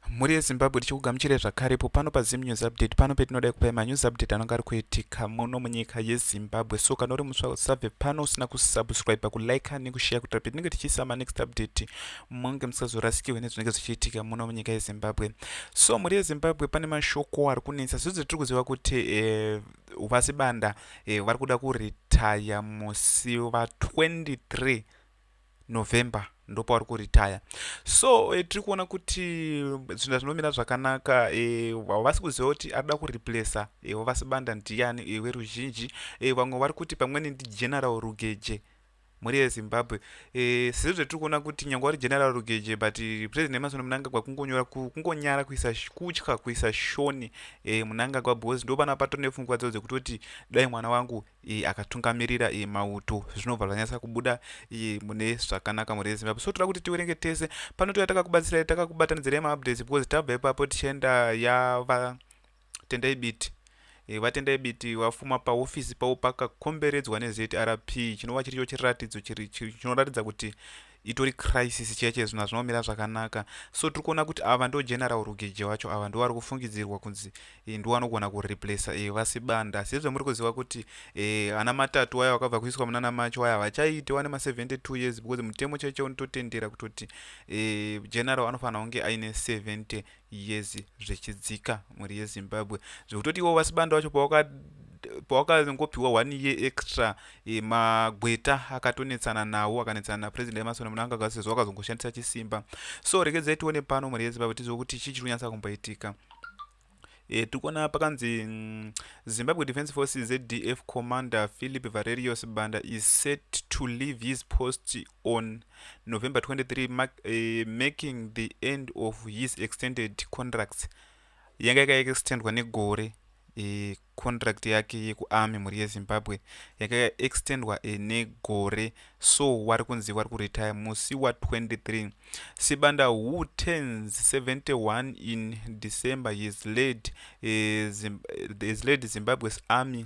mhuri yezimbabwe tichikugamuchirai zvakarepo pano pazim news update pano petinoda kupai manews update anonga ari kuitika muno munyika yezimbabwe so kana uri musva usabve pano usina kusubscribe kulike nekushare kutira petinenge tichiisa manext update munge musazorasikirwe nezvinenge zvichiitika muno munyika yezimbabwe so mhuri yezimbabwe pane mashoko ari kunetsa zvidzo tiri kuziva kuti eh, uvasi banda eh, vari kuda kuritaya musi va 23 november ndopauri kuritaya so e, tiri kuona kuti zvinhu zvinomira zvakanaka e, havasi e, kuziva kuti ari da kureplesa e, wavasi banda ndiyani e, weruzhinji e, vamwe vari kuti pamweni ndigeneral rugeje mhuri yezimbabwe e, sezvo zvatiri kuona kuti nyange wari general rugeje but president emasoni munangagwa kungonyora kungonyara kuisa kutya kuisa shoni e, munangagwa because ndo vana pato nepfungwa dzao dzekutoti dai mwana wangu iyi akatungamirira iyi mauto zvinobva zvanyatsa kubuda iyi mune zvakanaka mhuri yezimbabwe so toda kuti tiwerenge tese pano toya takakubatsirai takakubatanidzirai maupdates because tabva ipapo tichienda yava tendai biti eh, vatendai biti vafuma paofisi pavo pakakomberedzwa nezrp chinova chiricho chiratidzo chinoratidza kuti itori crisis chaiye chaiye zvinhu hazvina kumira zvakanaka so tiri kuona kuti ava ndo general rugeje wacho ava ndo vari kufungidzirwa kunzi eh, ndo vanogona kureplace e, eh, vasibanda asi hezve muri kuziva kuti e, ana matatu waya vakabva kuiswa munana macho waya havachaite wane ma72 years because mutemo chaiye chaiye unototendera kutoti e, general anofanira kunge aine 72 years zvichidzika mhuri yezimbabwe zvekutoti iwo vasibanda wacho pawakazongopiwa one year extra e, magweta akatonetsana nawo akanetsana napresident emasona munanga gasi sezvo wakazongoshandisa chisimba so rekedzai tione pano mhuri yezimbabwe tizive kuti chii chiri kunyatsa kumboitika e, eh, tikuona pakanzi mm, zimbabwe defense forces zdf commander philip varerios banda is set to leave his post on November 23 marking the end of his extended contracts yanga yakaextendwa negore e, contract yake yekuarmy mhuri yezimbabwe yanga yakaextendwa e, negore so wari kunzi wari kuretire musi wa23 sibanda who turns 71 in december his led, e, zim, his led zimbabwe's army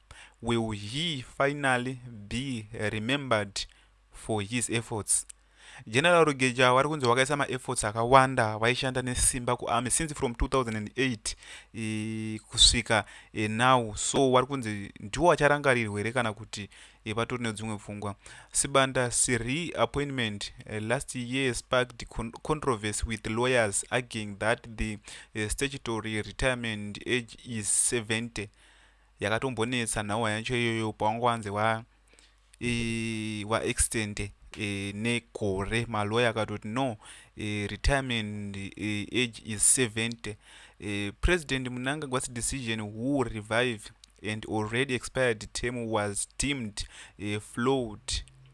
will he finally be remembered for his efforts general rugeja wari kunzi wakaisa maefforts akawanda waishanda nesimba kuarmy since from 2008 e, kusvika e, now so wari kunzi ndiwo wacharangarirwa here kana kuti e, vatori nedzimwe pfungwa sibanda siri appointment e, last year sparked con controversy with lawyers arguing that the e, statutory retirement age is 70 yakatombonetsa nhawa yacho iyoyo pawanga wanzi wa e, wa extend e, negore maloye akatoti no e, retirement e, age is 70 e, president munangagwasi decision who revive and already expired term was deemed e, flowed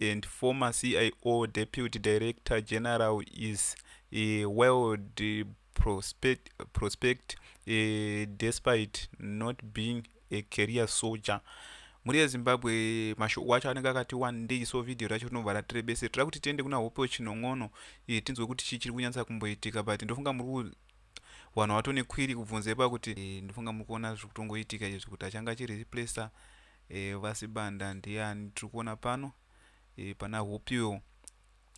and former CIO Deputy Director General is a world prospect, prospect uh, despite not being a career soldier mhuri yezimbabwe mashoko acho anenge akati wandei so vhidhiyo racho rinobva ratirebese tira kuti tiende kuna hope wechinon'ono eh, tinzwe kuti chii chiri kunyatsa kumboitika but ndofunga muri vanhu vato nekwiri kubvunza ipa kuti eh, ndofunga muri kuona zviri kutongoitika izvi kuti achanga achirireplacer eh, vasibanda ndiani tiri kuona pano eh, pana hupiwo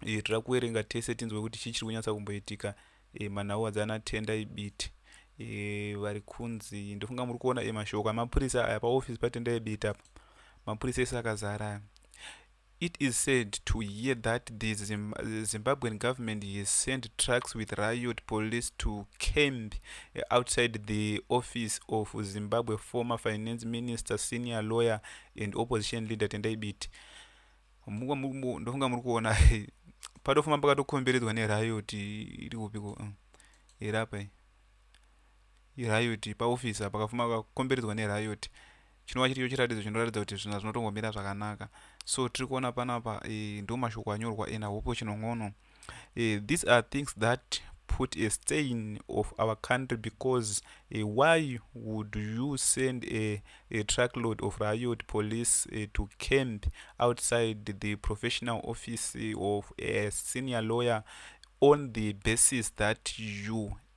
eh, tira kuverenga tese tinzwe kuti chii chiri kunyatsa kumboitika eh, manhau adzana tenda ibiti eh, vari kunzi ndofunga muri kuona eh, mashoko emapurisa aya paofisi patenda ibiti apa mapurisa ese akazara aya It is sad to hear that the Zimbabwean government has sent trucks with riot police to camp outside the office of Zimbabwe former finance minister, senior lawyer and opposition leader Tendai Biti. Ndofunga muri kuona patofuma pakatokomberedzwa neriot iri kupiko mm. irapa iriot paoffice pakafuma kakomberedzwa neriot chinova chiricho chiratidzo chinoratidza kuti zvinhu zvinotongomira zvakanaka so tiri kuona panapa e, ndo mashoko anyorwa ena hopo chinongono e, eh, these are things that put a stain of our country because e, why would you send a, a truck load of riot police e, to camp outside the professional office of a senior lawyer on the basis that you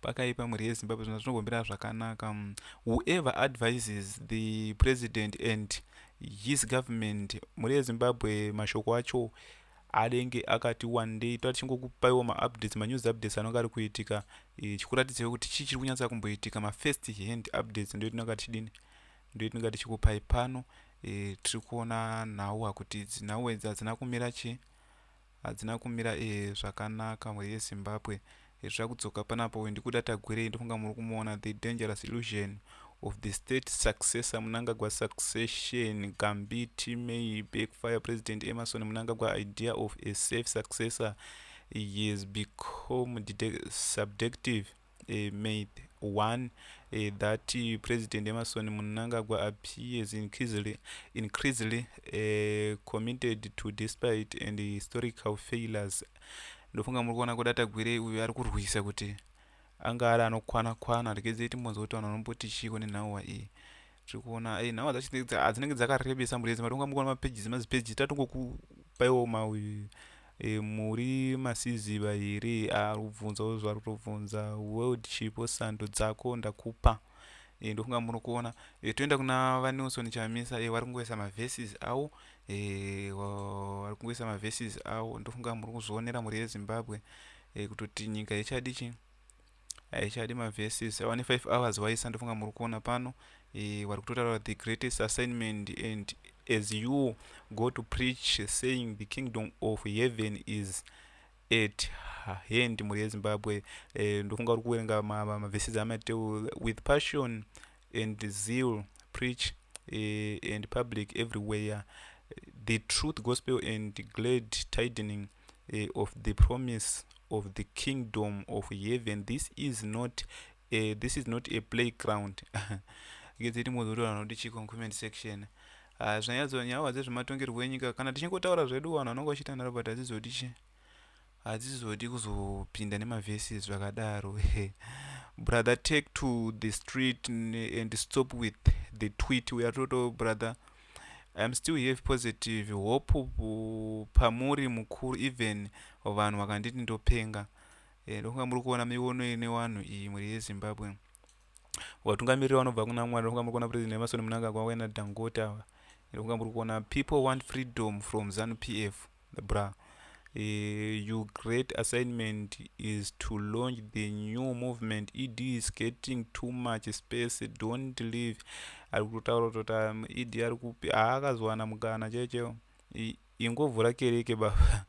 pakaipa mhuri yezimbabwe zvona zvinogombera zvakanaka mm, whoever advises the president and his government mhuri yezimbabwe mashoko acho anenge akati wandei toa tichingokupaiwo maupdates manews updates anonge ari kuitika eh, chikuratidzaiwo kuti chii chiri kunyatsa kumboitika mafirst hand updates ndo tinonga tichidini ndo tinonga tichikupai pano eh, tiri kuona nhau hakuti dzinhau idzi hadzina kumira chii hadzina kumira eh zvakanaka mhuri yezimbabwe hezvira kudzoka panapa uyu ndikuda tagwirei ndofunga muri kumuona the dangerous illusion of the state successor munangagwa succession gambiti may backfire president emerson munangagwa idea of a safe successor he has become subjective uh, May 1 uh, eh, that uh, President Emerson Mnangagwa appears increasingly, increasingly uh, committed to despite and historical failures. Ndofunga muri kuona kudata gwire uyu ari kurwisa kuti anga ari anokwana kwana rekedzeiti mbonzwa kuti vanhu vanomboti chiiko nenhauwa iyi tiri kuona e eh, nhau dzacho ah, dzinenge dzakarebesa murezi matonga mukuona mapages mazipages tatongokupaiwo ma e, muri masiziva here ah, ari kubvunzawo zvaari kutobvunza worldship sando dzako ndakupa e, ndofunga muri kuona e, toenda kuna vanilson chamisa e, vari kungoisa maverses awo e, vari kungoisa maverses awo ndofunga muri kuzvionera mhuri yezimbabwe e, kutoti nyika yechadii chii haichadi maverses awa ne 5 hours waisa ndofunga muri kuona pano e, wari kutotaura the greatest assignment and as you go to preach saying the kingdom of heaven is at hand mhuri yezimbabwe e, ndofunga uri kuverenga maverses amateu with passion and zeal preach e, and public everywhere the truth gospel and glad tidening uh, of the promise of the kingdom of heaven this is not uh, this is not a playground ngedzeti mwozi kuti vanhu vanoti chiko comment section ah, zvinanyadzo nyawa dzezvematongerwo enyika kana tichingotaura zvedu vanhu vanonga vachiita nharo but hadzizoti chi hadzizoti kuzopinda nemavhesis zvakadaro brother take to the street and stop with the tweet uyatoto brother uh, I'm still here positive hope pamuri mukuru even vanhu vakanditi ndopenga eh, ndokunga muri kuona miono ine vanhu iyi mhuri yezimbabwe vatungamiriri vanobva kuna mwari ndokunga muri kuona president emasoni munangagwa wena dangota ndokunga muri kuona people want freedom from zanu p f the bra uh, your great assignment is to launch the new movement ed is getting too much space don't leave ari kutotaura kutoti um, ed ari kupi haakazowana mukana chechewo ingovhura kereke baba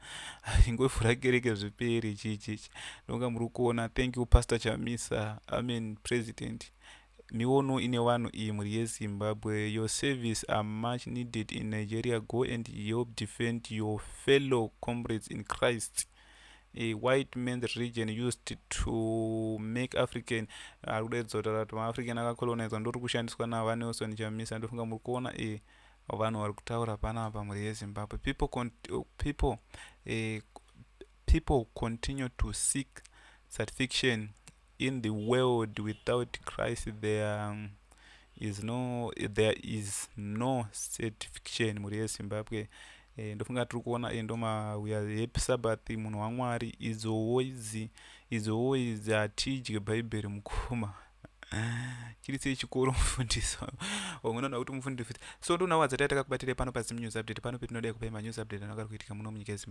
ingovhura kereke zviperi chichichi ndonga muri kuona thank you pastor chamisa amen president Miono ine vanhu iyi mhuri yezimbabwe your service are much needed in nigeria go and help defend your fellow comrades in christ a white man's region used to make african ari kudaidza kuti rati maafrican akacoloniza ndori kushandiswa navanelson chamisa ndofunga muri kuona e eh, vanhu vari kutaura panapa mhuri yezimbabwe people, con people, eh, people continue to seek satisfaction in the world without christ there is no there is no certification mhuri yezimbabwe e, ndofunga tiri kuona e, ndomauya happy sabbath munhu wamwari izowo idzi izowo idzi hatidye bhaibheri mukoma chiri sei chikoro mufundisi vamwe noona kuti mufundisi so ndonawo adzati ataka kubatira pano pazimu news update pano petinodai kupai manews update anogara kuitika muno munyika yezimbabwe